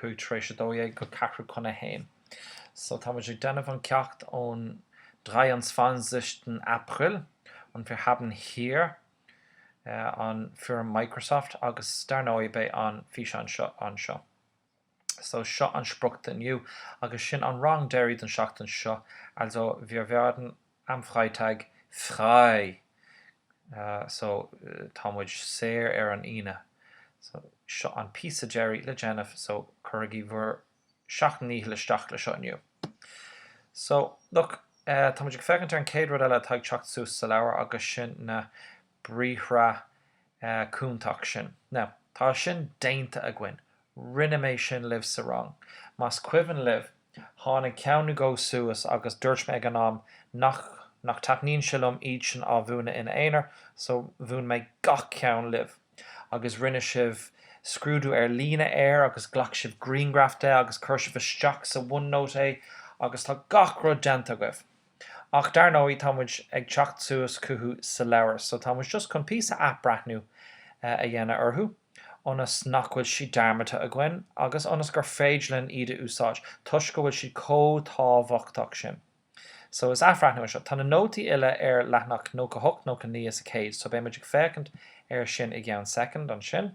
5 tar éis a dó dhéag go ceathrú chun a haon so, tá muid ag déanamh an ceacht ón drei und zwanzigsten April, und wir haben hier an foirm Microsoft agus dar ndóigh beidh an físeán seo anseo. So, seo an sprioc do inniu agus sin an rang deiridh den tseachtain seo, also wir werden am Freitag frei so tá muid saor ar an Aoine so seo an píosa deiridh le déanamh so cuirigí bhur seacht ndícheall isteach le seo inniu. So look tá muid ag féachaint ar an chéad rud eile atá ag teacht suas sa leabhar agus sin na briathra cúntach sin. Now, tá sin déanta againn. Rinne mé sin libh sa rang. Más cuimhin libh, tháinig ceann nó dhó suas agus dúirt mé ag an am nach nach dtaitníonn sé liom iad sin a mhúineadh ina aonar, so mhúin mé gach ceann libh. Agus rinne sibh scrúdú ar líne air agus ghlac sibh grianghraf de agus chuir sibh isteach sa OneNote é agus tá gach rud déanta agaibh. Ach dar ndóigh, tá muid ag teacht suas chucu sa leabhar, so tá muid just chun píosa athbhreathnú a dhéanamh orthu, ionas nach bhfuil siad dearmadta againn, agus ionas gur féidir linn iad a úsáid, toisc go bhfuil siad chomh tábhachtach sin. So is athbhreathnú é seo. Tá na nótaí uile ar leathanach nócha a hocht, nócha naoi is a céad, so beidh muid ag féachaint ar sin i gceann soicind ansin.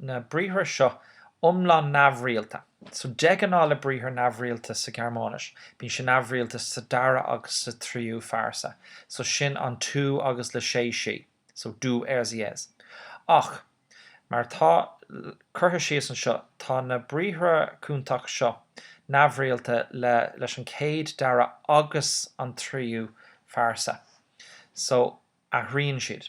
na briathra seo iomlán neamhrialta. So, de ghnáth le briathar neamhrialta sa Ghearmáinis, bíonn sé neamhrialta sa dara agus sa tríú phearsa. So, sin an tú agus le sé sí. So, du, er, sie, es. Ach, mar atá curtha síos anseo, tá na briathra cúntach seo neamhrialta le, leis an chéad, dara agus an tríú phearsa. So, athraíonn siad.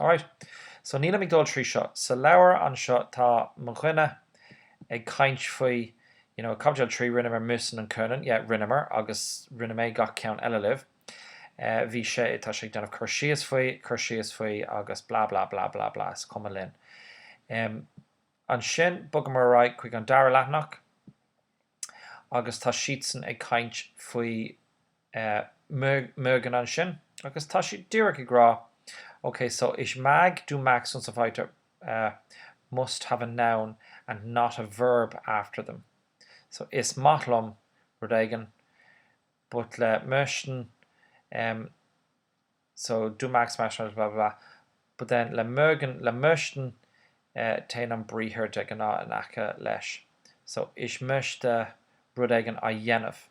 Alright, so nílim ag dul trí seo. Sa leabhar anseo tá mo dhuine ag caint faoi, you know, i gcaibidil 3 rinneamar müssen und können, yeah, rinneamar agus rinne mé gach ceann eile libh. Eh, bhí sé, tá sé ag déanamh cur síos faoi, cur síos faoi agus blah blah blah blah blah, is cuma linn. Em, ansin bogaimid ar aghaidh chuig an dara leathanach. agus tá siadsan ag caint faoi mögen ansin agus tá siad díreach ag rá ok so ich mag du magst und so weiter must have a noun and not a verb after them so is maith liom rud éigin but le mögen so du magst blah blah blah, but then le mögen, le möchten, eh, téann an briathar de ghnáth in aice leis, so ich möchte rud éigin a dhéanamh,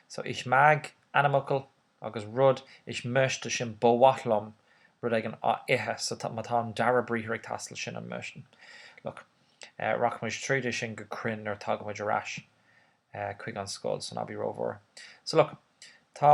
so ich mag, ainmfhocal, agus rud, ich möchte sin ba mhaith liom rud éigin a ithe, so tá, má tá an dara briathar ag teastáil sin an möchten, look, eh, rachaimid tríd é sin go cruinn nuair a tagaimid ar ais, eh, chuig an scoil san abbey rómhór, so look, tá,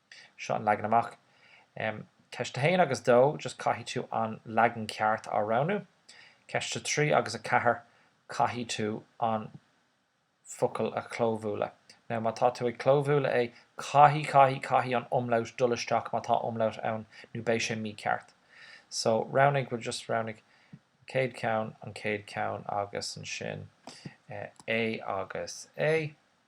Seo an leagan amach. Ceist a haon agus a dó, just caithfidh tú an leagan ceart a roghnú. Ceist a trí agus a ceathair, caithfidh tú an focal a chlóbhualadh. Now, má tá tú ag clóbhualadh é, caithfidh, caithfidh, caithfidh an umlaut dul isteach má tá umlaut ann nó beidh sé mícheart. So, roghnaigh, bhuel, just roghnaigh chéad cheann, an chéad cheann agus ansin A agus A.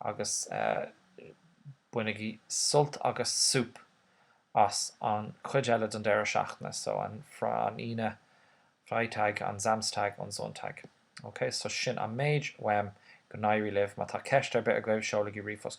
agus bainigí sult agus súp as an chuid eile den deireadh seachtaine so an Aoine Freitag an Samstag und Sonntag ok so sin an méid uaim go n-éirí libh má tá ceist ar bith agaibh seolaigí ríomhphost chugam.